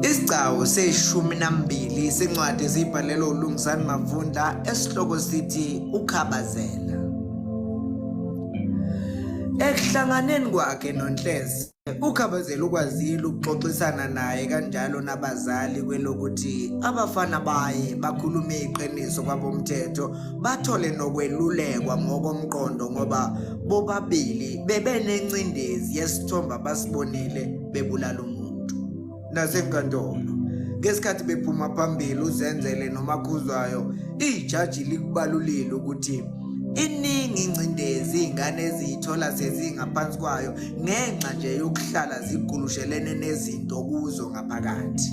Isigcawu seshumi nambili sincwadi esiyibhalelwe uLungisani Mavunda esihloko sithi Ukhabazela. Ekuhlanganeni kwakhe noNhlezi uKhabazela ukwazile ukuxoxisana naye kanjalo nabazali kwelokuthi abafana baye bakhulume iqiniso kwabomthetho bathole nokwelulekwa ngokomqondo ngoba bobabili bebenencindezi yesithombe abasibonile bebulala umuntu nasenkantolo ngesikhathi bephuma phambili uzenzele nomakhuzwayo ijaji likubalulile ukuthi iningi ingcindezi iy'ngane eziyithola sezingaphansi kwayo ngenxa nje yokuhlala zigulushelene nezinto kuzo ngaphakathi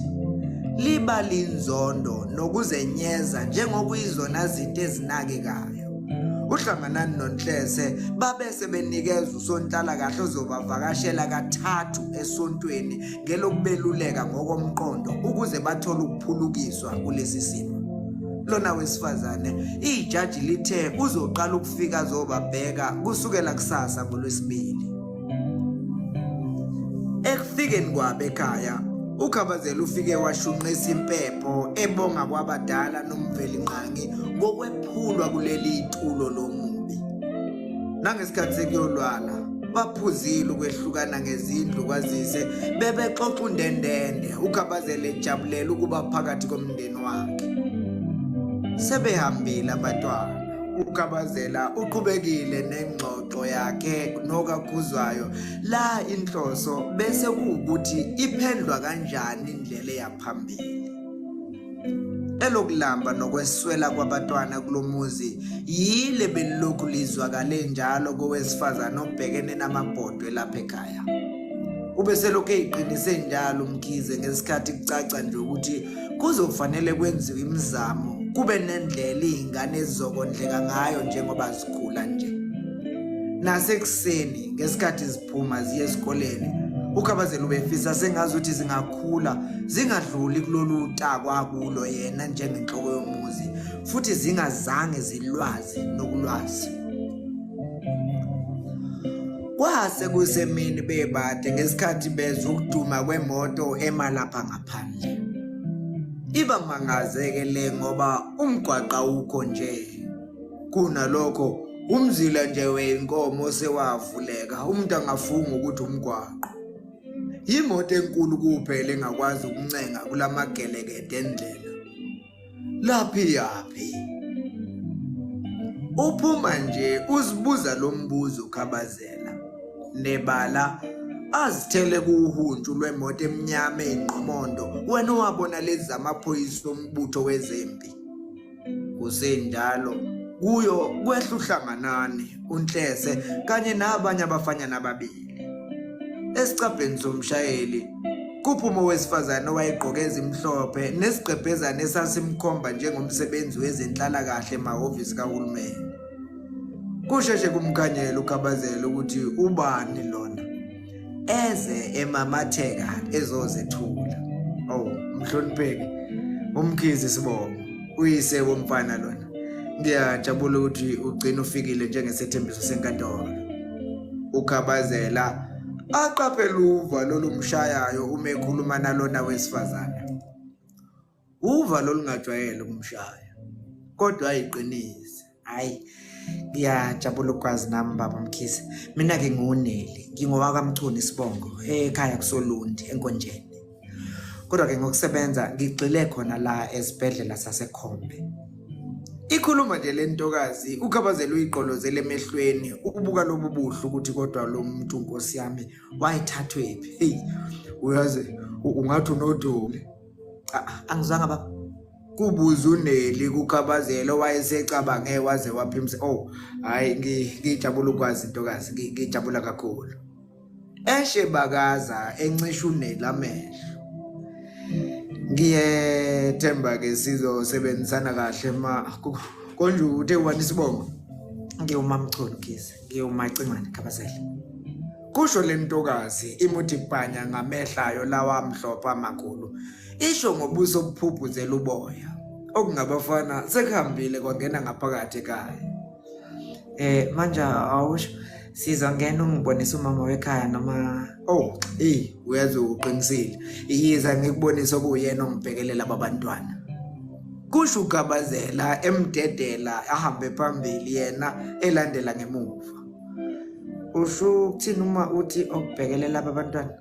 liba linzondo nokuzenyeza njengokuyizona zinto ezinakekayo uhlanganani nonhlese babese benikeza usonhlalakahle ozobavakashela kathathu esontweni ngelokubeluleka ngokomqondo ukuze bathole ukuphulukiswa kulesi simo lona wesifazane ijaji lithe uzoqala ukufika zobabheka kusukela kusasa ngolwesibili Ekufikeni kwabe ekhaya uKhabazela ufike washunqisa impepho ebonga kwabadala nomveli nqangi ngokwephulwa kuleli tulo lomubi nangesikhathi sekuyolwala baphuzile ukwehlukana ngezindlu kwazise bebexoxa undendende uKhabazela ejabulela ukuba phakathi komndeni wakhe sebehambile abatwana uKhabazela uqhubekile nengxoxo into yakhe nokakhuzwayo la inhloso bese kuwukuthi iphendlwa kanjani indlela eyaphambili elokulamba nokweswela kwabatwana kulomuzi yile belilokhu lizwakale njalo kowesifazane obhekene namabhodwe lapha ekhaya ube selokhu eyiqinise njalo umkhize ngesikhathi kucaca nje ukuthi kuzofanele kwenziwe imizamo kube nendlela izingane ezizokondleka ngayo njengoba zikhula nje nasekuseni ngesikhathi ziphuma ziye esikoleni ukhabazela ubefisa sengazi ukuthi zingakhula zingadluli kulolu takwa kulo yena njengenhloko yomuzi futhi zingazange zilwazi nokulwazi kwase kusemini bebade ngesikhathi bezwa ukuduma kwemoto emalapha ngapha phandle iba mangazeke le ngoba umgwaqa ukho nje kunalokho umzila nje wenkomo sewavuleka umuntu angafunga ukuthi umgwaqo yimoto enkulu kuphela engakwazi ukuncenga kulamagelekedo endlela laphi yaphi uphuma nje uzibuza lo mbuzo ukhabazela nebala azithele kuwuhuntshu lwemoto emnyama eyinqomondo wena owabona lezi zamaphoyisa ombutho wezempi kusenjalo kuyo kwehla uhlanganani unhlese kanye nabanye abafanyana ababili Esicabheni somshayeli kuphuma owesifazane owayegqoke ezimhlophe nesigqebhezane esasimkhomba njengomsebenzi wezenhlalakahle emahhovisi kahulumeni. Kusheshe kumkhanyela ukhabazela ukuthi ubani lona eze emamatheka ezozethula. Oh, mhlonipheki umkhizi sibongo. uyise womfana lona ngiyajabula ukuthi ugcina ufikile njengesethembiso senkantolo ukhabazela aqaphela uva lolumshayayo uma ekhuluma nalona wesifazane uva lolungajwayele ukumshaya kodwa ayiqinise hayi ngiyajabula ukwazi nami baba mkhisi mina-ke ngiwuneli ngingowakamchuni isibongo ekhaya kusolundi enkonjeni kodwa-ke ngokusebenza ngigxile khona la esibhedlela sasekhombe ikhuluma nje le ntokazi ukhabazela uyiqolozela emehlweni ukubuka lobu buhle ukuthi kodwa lo muntu nkosi yami wayithathwephi heyi uyazi ungathi unodoli angizwanga baba kubuza uneli kukhabazela owayesecabange waze waphimsa oh hayi ngijabula ukwazi intokazi ngijabula kakhulu eshe bakaza encisha uneli amehlo ngiyethemba ke sizosebenzisana kahle ma konje uthe wani sibongo ngiyumamchulu kize ngiyumacingwane khabazela kusho lentokazi imuthi bhanya ngamehlayo lawa mhlopha amakhulu isho ngobuso obuphuphuzela uboya okungabafana sekuhambile kwangena ngaphakathi ekhaya eh manje awusho sizongena ungibonisa umama wekhaya noma oh eh uyazi uqinisile iyiza ngikubonisa okuyena ongibhekelela babantwana kusho ugabazela emdedela ahambe phambili yena elandela ngemuva usho ukuthini uma uthi okubhekelela abantwana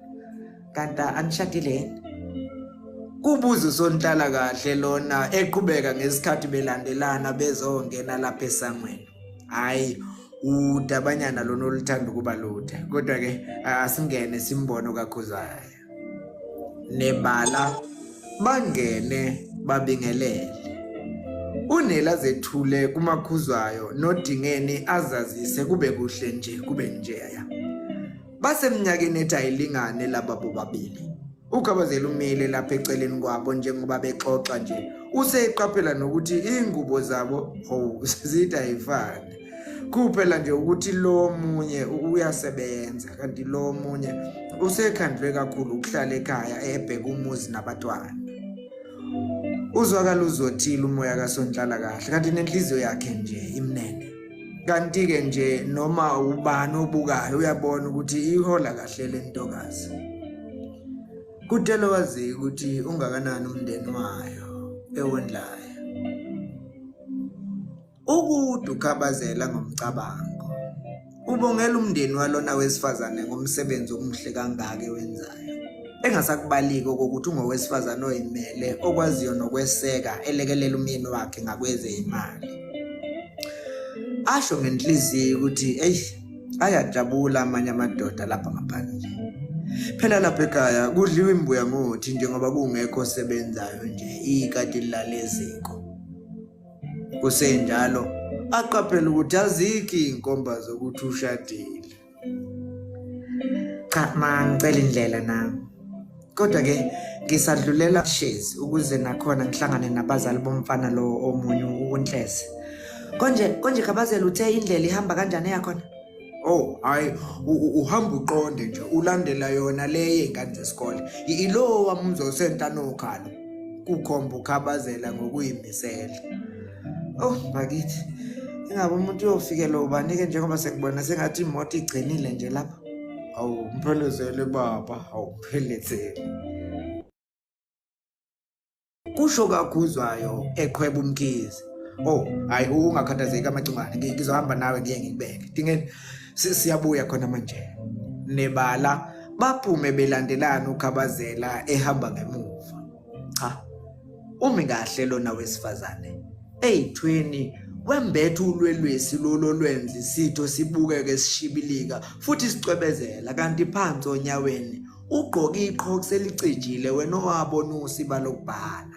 kanti anishadile yini kubuza usonhlala kahle lona eqhubeka ngesikhathi belandelana bezongena lapha esangweni hayi udabanyana lona oluthanda ukuba lude kodwa ke asingene simbono kakhuzaya nebala bangene babingelele unela zethule kumakhuzwayo nodingeni azazise kube kuhle nje kube njeya Basemnyakeni ethi ayilingane laba bobabili. UGabazela umile lapha eceleni kwabo njengoba bexoxa nje. Useyiqaphela nokuthi ingubo zabo oh zida ayifani. Kuphela nje ukuthi lo munye uyasebenza kanti lo munye usekhandlwe kakhulu ukuhlala ekhaya ebheka umuzi nabatwana. Uzwakala uzothile umoya kaSonhlala kahle kanti nenhliziyo yakhe nje imnene. kanti-ke nje noma ubani obukayo uyabona ukuthi ihola kahle le ntokazi kudela waziyo ukuthi ungakanani umndeni wayo ewondlayo ukude ukhabazela ngomcabango ubongela umndeni walona wesifazane ngomsebenzi omuhle kangaka ewenzayo Engasakubaliki okokuthi ungowesifazane oyimele okwaziyo nokweseka elekelela umyeni wakhe ngakwezeyimali. Asho ngenhliziyo ukuthi eyi ayajabula amanye amadoda lapha ngaphandle. Phela lapha ekhaya kudliwa imbuya ngothi njengoba kungekho osebenzayo nje ikati lilale eziko. Kusenjalo aqaphela ukuthi azikho iy'nkomba zokuthi ushadile. cha ma ngicela indlela nami kodwa ke ngisadlulela shezi ukuze nakhona ngihlangane nabazali bomfana lowo omunye uNhlese konje konje kabazela uthe indlela ihamba kanjani yakhona Oh hayi uhamba uqonde nje ulandela yona le yengane zesikole ilowa muzosenta nokhalo kukhomba ukhabazela ngokuyimisela Oh bakithi ingabe umuntu uyofikelwa ubani-ke njengoba sekubona sengathi imoto igcinile nje lapha awu mphelezele baba awuphelezele kusho kakhuzwayo eqhweba umkhizi oh hayi ungakhathazeki amacungane ngizohamba nawe ngiye ngikubeke dingeni siyabuya khona manje nebala baphume belandelana ukhabazela ehamba ngemuva cha umi kahle lona wesifazane eyithweni wembetha ulwelwesi lolo lwendli sitho sibukeke sishibilika futhi sicwebezela kanti phansi onyaweni ugqoke iqhoku selicijile wena owabona usiba lokubhala